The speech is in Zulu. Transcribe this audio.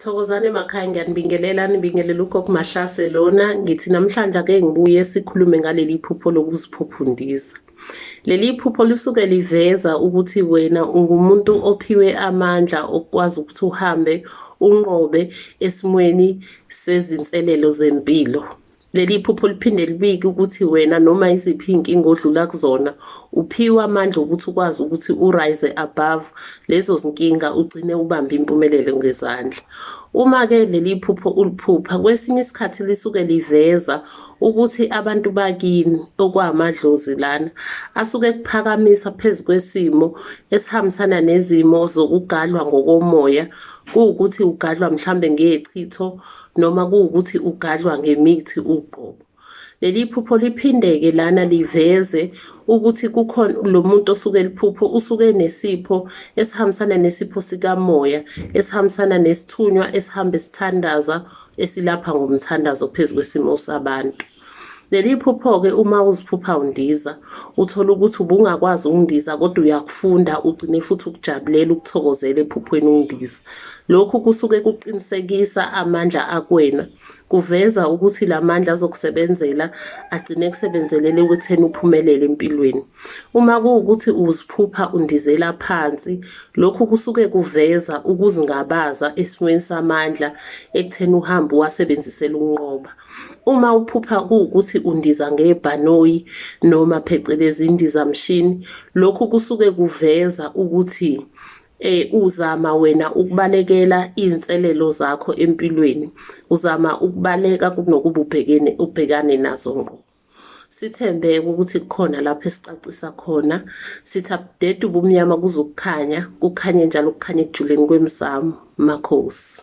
Thokozani emakhaya ngiyanibingelela nibingelela ugogo Mahlase lona ngithi namhlanje ake ngibuye sikhulume ngaleli phupho lokuziphuphundisa leli phupho lisuke liveza ukuthi wena ungumuntu ophiwe amandla okwazi ukuthi uhambe unqobe esimweni sezinselelo zempilo Leli phupho liphinde libike ukuthi wena noma iziphi iy'nkinga odlula kuzona uphiwe amandla okuthi ukwazi ukuthi urise above lezo zinkinga ugcine ubambe impumelelo ngezandla. Uma-ke leli phupho uliphupha kwesinye isikhathi lisuke liveza ukuthi abantu bakini okwamadlozi lana asuke kuphakamisa phezu kwesimo esihambisana nezimo zokugadlwa ngokomoya kuwukuthi ugadlwa mhlambe ngechitho noma kuwukuthi ugadlwa ngemithi uqobo. Leli phupho liphindeke lana liveze ukuthi kukhona lo muntu osuke liphupho usuke nesipho esihambisana nesipho sikamoya esihambisana nesithunywa esihamba esithandaza esilapha ngomthandazo phezu kwesimo sabantu. Leli phupho-ke uma uziphupha undiza, uthole ukuthi ubungakwazi ukundiza kodwa uyakufunda ugcine futhi ukujabulela ukuthokozela ephuphweni undiza. Lokhu kusuke kuqinisekisa amandla akwena, kuveza ukuthi la mandla azokusebenzela agcine kusebenzelele ekutheni uphumelele empilweni. Uma kuwukuthi uziphupha undizela phansi, lokhu kusuke kuveza ukuzingabaza esimweni samandla ekutheni uhambe uwasebenzisela ukunqoba. uma uphupha kuwukuthi undiza ngebhanoyi noma phecelezi indizamshini lokhu kusuke kuveza ukuthi eh uzama wena ukubalekela izinselelo zakho empilweni uzama ukubaleka kunokuba ubhekene ubhekane nazo ngqo sithembe ukuthi kukhona lapho esicacisa khona sithi abudede ubumnyama kuzokukhanya kukhanye njalo kukhanye ekujuleni kwemsamo makhosi